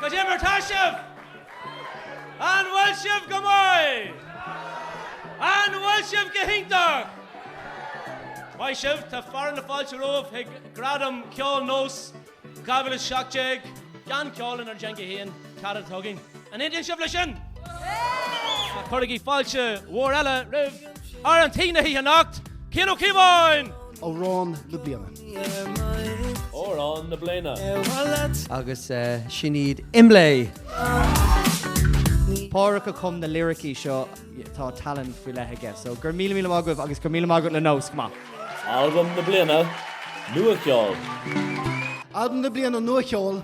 Cad é mar tá sibh! An bhfuil sibh go maith? An bhfuil sibh go hiontach? Maith sibh, tá fearadh na fáilte romhaibh chuig Gradam Ceoil Nós 2017, don cheol in ár dteanga féin. Cad a thugann anseo inniu sibh leis sin? Ach cuirigí fáilte mhór eile roimh fhear tí na hoíche anocht, Cian Ó Cíobháin! Amhrán na Bliana. Amhrán na Bliana. Agus sin iad Imlé! Pádraic a chum na liricí seo, tá tallann faoi leith aige, so go raibh míle míle maith agaibh agus go raibh míle maith agat le NÓS, go maith. Albam na Bliana, Nua Cheol. Albam na Bliana, Nua Cheol.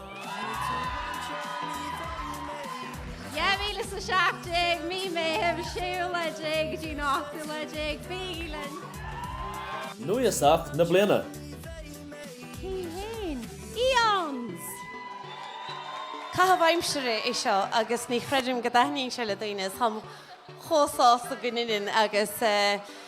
2017, Mí Meithimh, 6ú lá déag go dtí an 8ú lá déag. Bígí linn! Núíosach na Bliana. Cé hé? Aeons! Caitheamh aimsire é seo agus ní chreidim go dtaitníonn sé le daoine, is táim chomh sásta go mbíonn agus.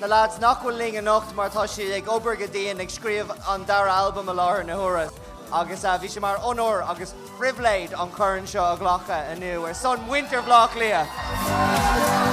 na leaids nach bhfuil linn anocht mar tá siad ag obair go dian ag scríobh an dara albam i láthair na huaire agus bhí sé mar onóir agus phribhléid an corn seo a ghlacadh inniu ar son mhuintir Bhleá Cliath.